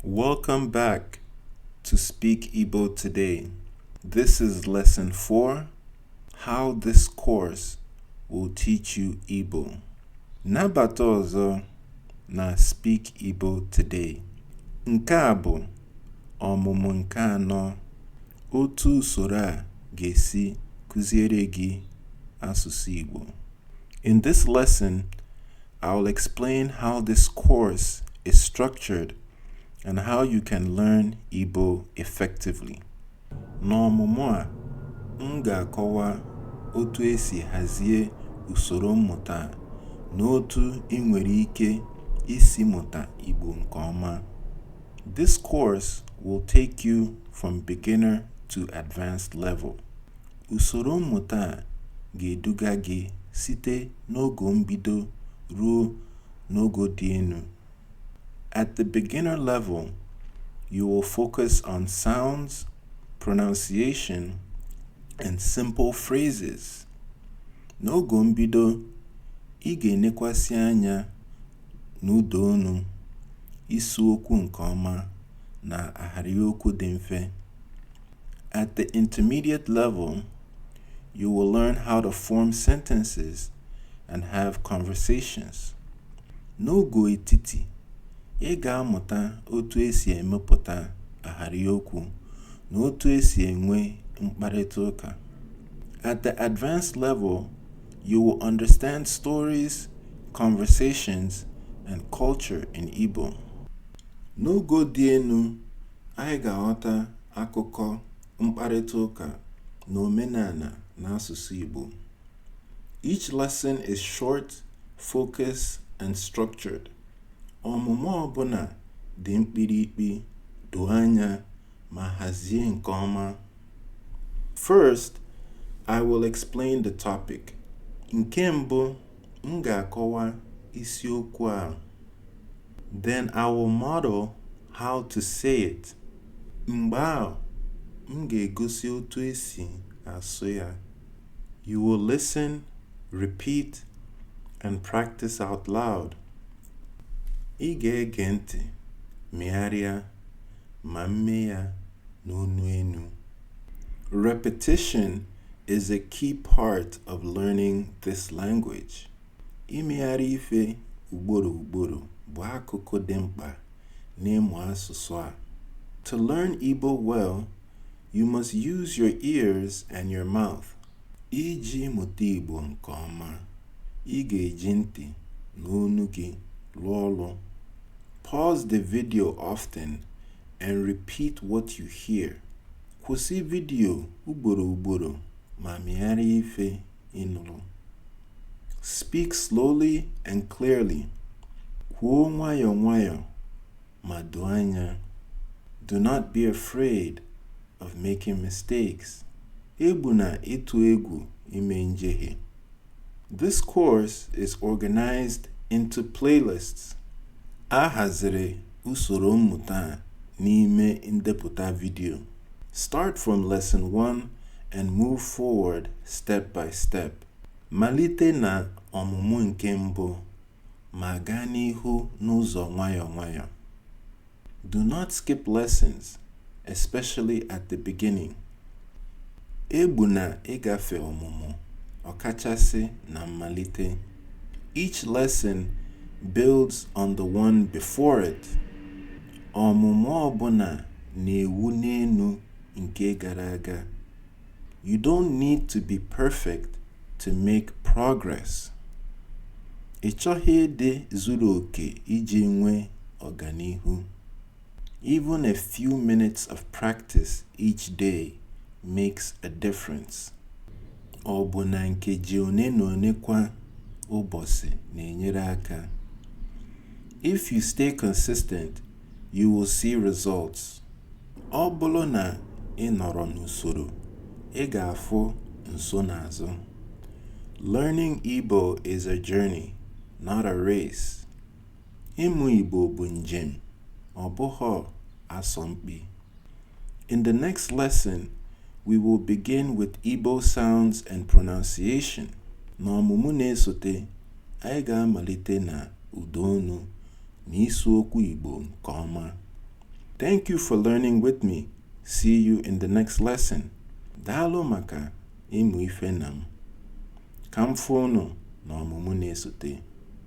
Welcome back to Speak Igbo Today. This is lesson 4 How this course will teach you Igbo. Nabata ọzọ na Speak Igbo Today. Nke a bụ ọmụmụ nke anọ otu usoro a ga-esi kụziere gị asụsụ Igbo. In this lesson, I will explain how this course is structured and how you can learn Igbo effectively. N'ọmụmụ a, m ga-akọwa otu esi hazie usoro mmụta a na otu ị nwere ike isi mụta Igbo nke ọma. This course will take you from beginner to advanced level. Usoro mmụta a ga-eduga gị site n'ogo mbido ruo n'ogo dị elu. At the beginner level, you will focus on sounds, pronunciation, and simple phrases. N'ogo mbido, ị ga-enekwasị anya n'ụda olu, ịsụ okwu nke ọma, na ahịrịokwu dị mfe. At the intermediate level, you will learn how to form sentences and have conversations. N'ogo etiti, ị ga-amụta otu esi emepụta ahịrịokwu na otu esi enwe mkparịta ụka. At the advanced level, you will understand stories, conversations, and culture in Igbo. N'ogo dị elu, Anyị ga-aghọta akụkọ, mkparịta ụka, na omenala n'asụsụ Igbo. Each lesson is short, focused, and structured. Ọmụmụ ọbụla dị mkpirikpi, doo anya, ma hazie nke ọma. First, I will explain the topic. Nke mbụ, M ga-akọwa isiokwu ahụ. Then I will model how to say it. Mgbe ahụ, m ga-egosi otu esi asụ ya. You will listen, repeat, and practice out loud. Ị ga-ege ntị, megharịa, ma mee ya n'onu enu. Repetition is a key part of learning this language. Imegharị ife ugboro ugboro bụ akụkụ dị mkpa n'ịmụ asụsụ a. To learn Igbo well, you must use your ears and your mouth. Iji mụta Igbo nke ọma, ị ga-eji ntị na ọnụ gị lụọ ọlụ. Pause the video often and repeat what you hear. Kwụsị vidiyo ugboro ugboro ma megharịa ife ị nụrụ. Speak slowly and clearly. Kwuo nwayọọ nwayọọ ma doo anya. Do not be afraid of making mistakes. Egbuna ịtụ egwu ime njehie. This course is organized into playlists. A haziri usoro mmụta a n'ime ndepụta vidiyo. Start from lesson 1 and move forward step by step. Malite na ọmụmụ nke mbụ ma gaa n'ihu n'ụzọ nwayọọ nwayọọ. Do not skip lessons, especially at the beginning. Egbuna ịgafe ọmụmụ, ọkachasị na mmalite. Each lesson builds on the one before it. Ọmụmụ ọbụna na-ewu n'enu nke gara aga. You don't need to be perfect to make progress. Ị chọghị ịdị zuru oke iji nwee ọganihu. Even a few minutes of practice each day makes a difference. Ọbụna nkeji one na one kwa ụbọsị na-enyere aka. If you stay consistent You will see results. Ọ bụlụ na ị nọrọ n'usoro, ị ga-afụ nsonaazụ. Learning Igbo is a journey, not a race. Ịmụ Igbo bụ njem, ọ bụghị asọmpi. In the next lesson, we will begin with Igbo sounds and pronunciation. N'ọmụmụ na-esote, anyị ga-amalite na ụdaonu. na ịsụ okwu Igbo nke ọma. Thank you for learning with me. See you in the next lesson. Daalụ maka ịmụ ife na m. Ka m fụ unu n'ọmụmụ na-esote.